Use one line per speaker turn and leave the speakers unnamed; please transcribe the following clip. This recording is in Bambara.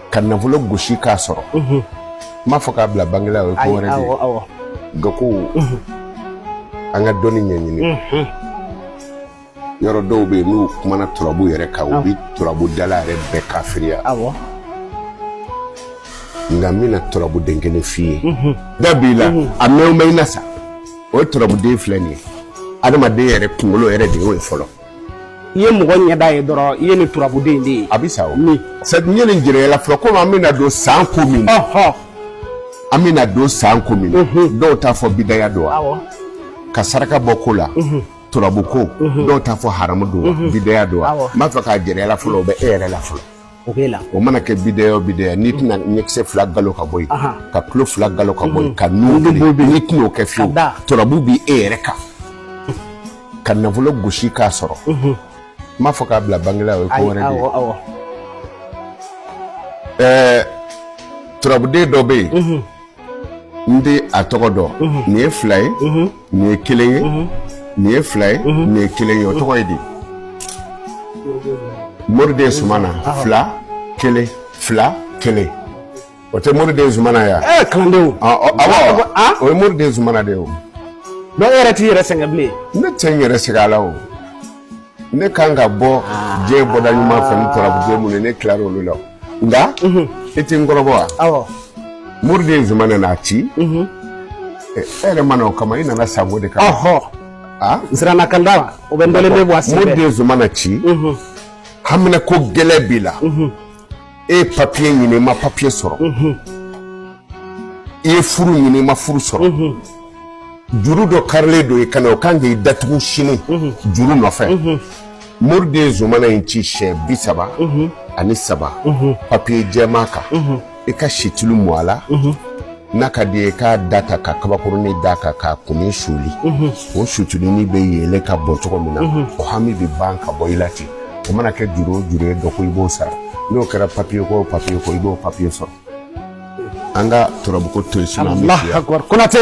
ka nafolo gosi k'a sɔrɔ n m'a fɔ k'a bila banki la o ye ko wɛrɛ de ye nka ko an ka dɔnni ɲɛɲini yɔrɔ dɔw bɛ yen n'u kumana turabu yɛrɛ kan u bɛ turabudala yɛrɛ bɛɛ kafiriya nka n bɛna turabuden kelen f'i ye da b'i la a mɛn bɛ i na sa o ye turabuden filɛ nin ye adamaden yɛrɛ kunkolo yɛrɛ de y'o ye fɔlɔ i ye
mɔgɔ ɲɛda ye dɔrɔn i ye nin turabuden de ye a bɛ sa o min
sadi n ye nin jira i la fɔlɔ komi an bɛna don san ko min na ɔhɔ an bɛna don san ko min na Mhm. dɔw t'a fɔ bidaya don wa awɔ ka saraka bɔ ko la turabu ko dɔw t'a fɔ haramu don wa bidaya don wa Awɔ. n b'a fɛ k'a jira i la fɔlɔ o bɛ e yɛrɛ la fɔlɔ o b'e la o mana kɛ bidaya o bidaya n'i tɛna ɲɛkisɛ fila galo ka bɔ yen ka tulo fila galo ka bɔ yen ka nun n'i tɛna o kɛ fiyewu turabu b'i e yɛrɛ kan ka nafolo gosi k'a sɔrɔ n m'a fɔ k'a bila banki la o ye ko wɛrɛ de ye ɛɛ turabuden dɔ bɛ yen n tɛ a tɔgɔ dɔn nin ye fila ye nin ye kelen ye nin ye fila ye nin ye kelen ye o tɔgɔ ye di moriden sumana fila kelen fila kelen o tɛ moriden sumana ye ɛɛ kalandenw
awɔ
o ye moriden sumana de ye o dɔw yɛrɛ t'i
yɛrɛ sɛgɛn bilen ne tɛ n yɛrɛ sɛgɛn
a la o ne ka kan ka bɔ diɲɛ bɔda ɲuman fɛ ni turabu minnu ye ne tilara olu la nka e tɛ n kɔrɔbɔ wa moriden sumana n'a ci e yɛrɛ ma na o kama i nana san ko de kama n
siranna kan da la o bɛ n dalen bɛ bɔ a sen fɛ moriden sumana ci
haminanko gɛlɛn b'i la e ye papiye ɲini i ma papiye sɔrɔ i ye furu ɲini i ma furu sɔrɔ juru dɔ karilen don i kan na o kan k'i datugu sini juru nɔfɛ moriden zumana in ci siɲɛ bi saba ani saba papiye jɛman kan i ka situlu mu a la n'a ka d'i ye k'a da ta ka kabakurunin da a kan k'a kunnin suuli o situlunin bɛ yeele ka bɔ cogo min na o hami bɛ ban ka bɔ i la ten o mana kɛ juru o juru ye dɔ ko i b'o sara n'o kɛra papiye ko o papiye ko i b'o papiye sɔrɔ an ka turabuko to yen sinon an bɛ Alahu fiya akubar konate